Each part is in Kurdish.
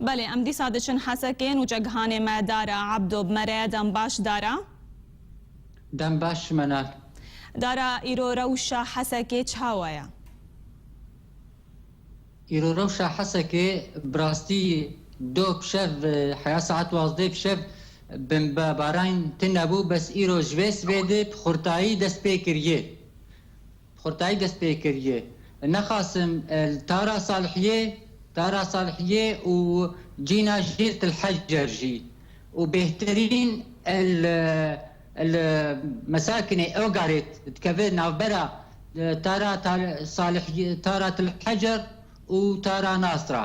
Belê em dîsa diçin Hesekê nûçe gihanê me Dara, Ebdo, bi me re dem baş Dara. Dem baş ji me nat. Dara, îro rewşa Hesekê çawa ye? Îro rewşa Hesekê bi rastî do kişev heya saet wazdeh kişev bimbe baran tune bû bes îro ji vê sibê di bi xurtayî dest pê kiriye. Bi xurtayî dest pê kiriye. Nexasim li Tara Salihiyê, Tara Salihiyê û cîna jî li Til Hecer jî û bêhtirîn li Mesakinê Ogarit dikeve navbera Tara Salihiyê, Tara Til Hecer û Tara Nasra.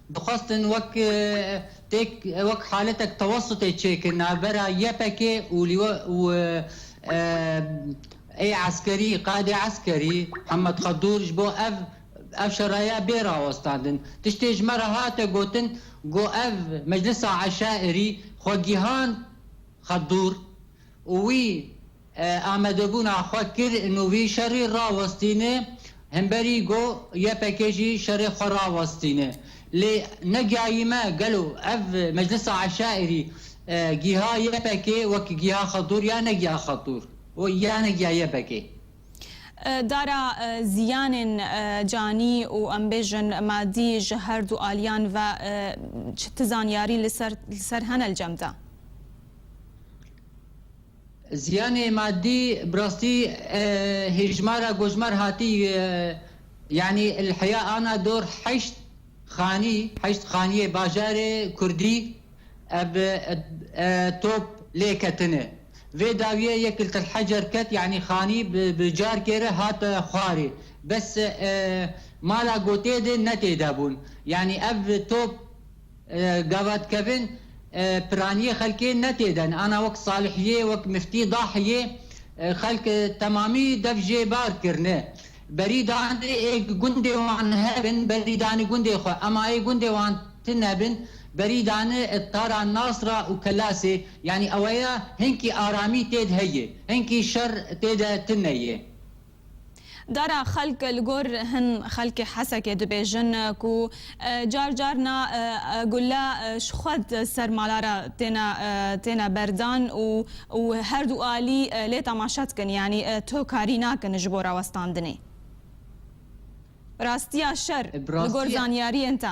Dixwestin wek têk wek haletek tewesutê çêkin navbera YPG û lîwe û ê eskerî qaedê eskerî Hemed Xedur ji bo ev ev şeraya bê rawestandin. Tiştê ji me re hate gotin ku ev Meclisa Eşairî xwe gihand Xedur û wî Amadebûna xwe kir û vî şerî rawestîne, hemberî got ypk jî şerê xwe rawestîne. Lê negiyayî me gelo ev Meclisa Eşaîrî giha ypkê wek giha xwe dûr ya negiya xwe dûr û ya negiya ypkê. Dara ziyanên canî û em bêjin madî ji her du aliyan ve çi ti zanyarî li ser hene li cem de? Ziyanê madî bi rastî hêjmara gojmar hatî yanî li heya ana dor heşt xanî heşt xanîyê bajarê kurdî ev top lê ketine. Vê dawîye yek li til hecer ket yanî xanî bi carkê re hat xwarî bes mala gotê de ne têde bûn yanî ev top. Gavatkevin piraniyê xelkê ne tê den. Ana wek Salihiyê, wek Miftî Dahiyê xelk temamî dev jê bar kirine. Berî danê ê gundê wan hebin, berî danê gundê xwe. Ema ê gundê wan ti nebin, berî dane tara Nasra û Kelasê. Yanî eweya hinkî aramî têde heye, hinkî şer têde tine ye. Dara xelk li gor hin xelkê Hesekê dibêjin ku car car na gule ji xwe ser mala re têne têne berdan û û her du alî lê temaşe dikin yanî tu karî nakin ji bo rawestandinê rastiya şer li gor zanyariyên te.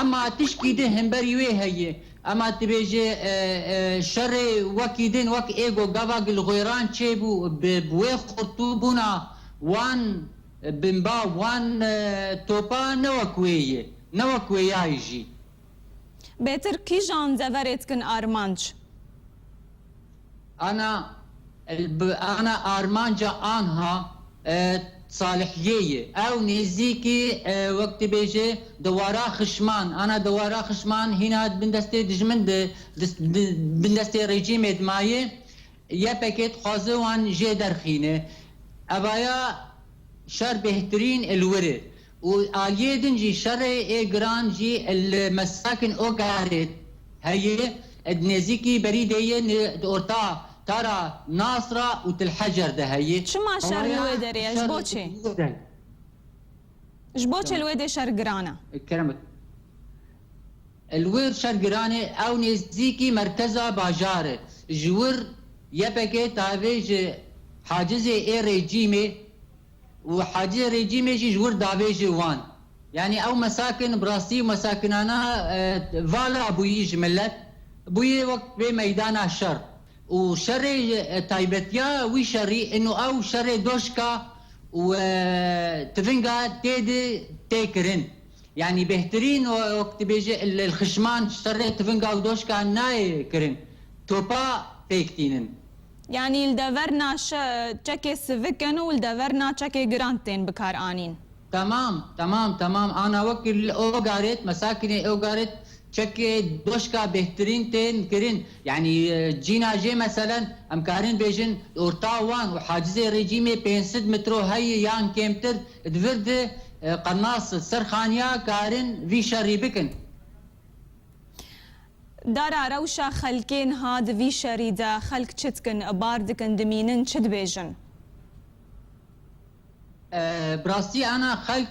Ema tişkî din hemberî wê heye. Ema dibêje şerê wekî din wek ê ku gava Gilxwêran çêbû bi wê xurtûbûna wan binba wan topa ne wek wê ye. Ne wek wê yayî jî. Bêtir kîjan deverê dikin armanc? Ana li bi ana armanca anha Salihiyê ye. Ew nêzîkî wek dibêje dewara xişman. Ana dewara xişman hîna di bin destê dijmin de, di bin destê rejîmê de maye. Ypg dixwaze wan jê derxîne. Evaya şer bêhtirîn li wir e. Û aliyê din jî şerê ê giran jî li mesakên Okarê heye, di nêzîkî Berîdê yê di orta Tara Nasra û Tilhecer de heye. Çima şer li wê derê ye? Ji bo çi? Ji bo çi li wê dê şer giran e? Kerem, Li wir şer giran e, ew nêzîkî merkeza bajar e. Ji wir YPG tavê ji hacizê ê rejîmê, Û Hacî Rêcîmê jî ji wir dabêje wan. Yanî ew mesakin bi rastî mesakinana vala bûyî ji milet. Bûye wek vê meydana şer. Û şerê taybetiya wî şerî ino ew şerê doşka û tivinga tê de tê kirin. Yanî bêhtirîn wek dibêje li xişman şerê tivinga û doşka nayê kirin. Topa pêk tînin. Yanî li dever na çekê sivik in û li dever na çekê giran tên bikaranîn. Tamam, tamam, tamam, ana wek li Ogarit, mesakinê Ogarit çekê doşka bêhtirîn tên kirin. Yanî cîna jê meselen em karin bêjin di orta wan û hacizê rejîmê pênc sed metro heye yan kêmtir, di vir di qernas ser xaniya karin vî şerî bikin. Dara rewşa xelkê niha di vî şerî de xelk çi dikin, bar dikin, dimînin, çi dibêjin? Bi rastî ana xelk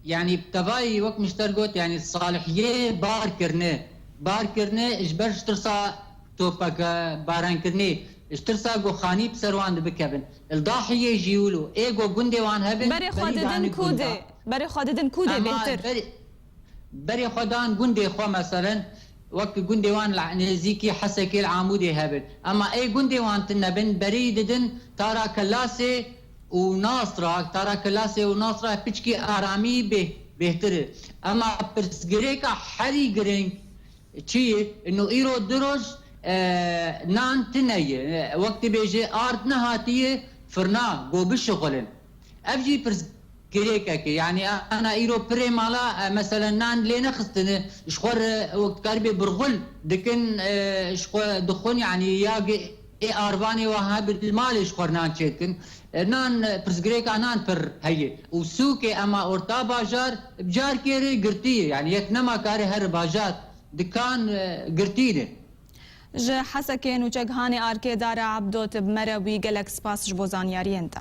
yanî bi tevayî wek Muşter got yanî salihiyê bar kirine. Bar kirine ji ber ji tirsa topbarankirinê, ji tirsa ku xanî bi ser wan de bikevin. Li Dahiyê jî wilo. Ê ku gundê wan hebin, Berê xwe didin ku dê? Berê xwe didin ku dê bêhtir? Berê xwe dan gundê xwe meselin wek gundê wan li nêzîkî Hesekê li Amûdê hebin. Ema ê gundê wan tine bin berî didin Tara Kelasê û Nasra. Tara Kelasê û Nasra piçkî Aramî bêh bêhtir in. Ema pirsgirêka herî giring çi ye no îro du roj nan tine ye. Wek dibêje ard nehatiye firna go bişixulin. Ev jî pirs. Girêkeke yanî ana îro pirê mala meselen nan lê nexistine ji xwe re wek dikarîbê birxul dikin ji xwe dixwin yanî ya ê arvanê wan hebin li malê ji xwe re nan çêdikin nan pirsgirêka nan pir heye û sûkê ema orta bajar bi carkê re girtî ye yanî yek nema karê here bajar dikan girtî ne. Ji Hesekê Nûçe Gihanê Arkê Dara Ebdo Tib Mere wî gelek spas ji bo zanyariyên te.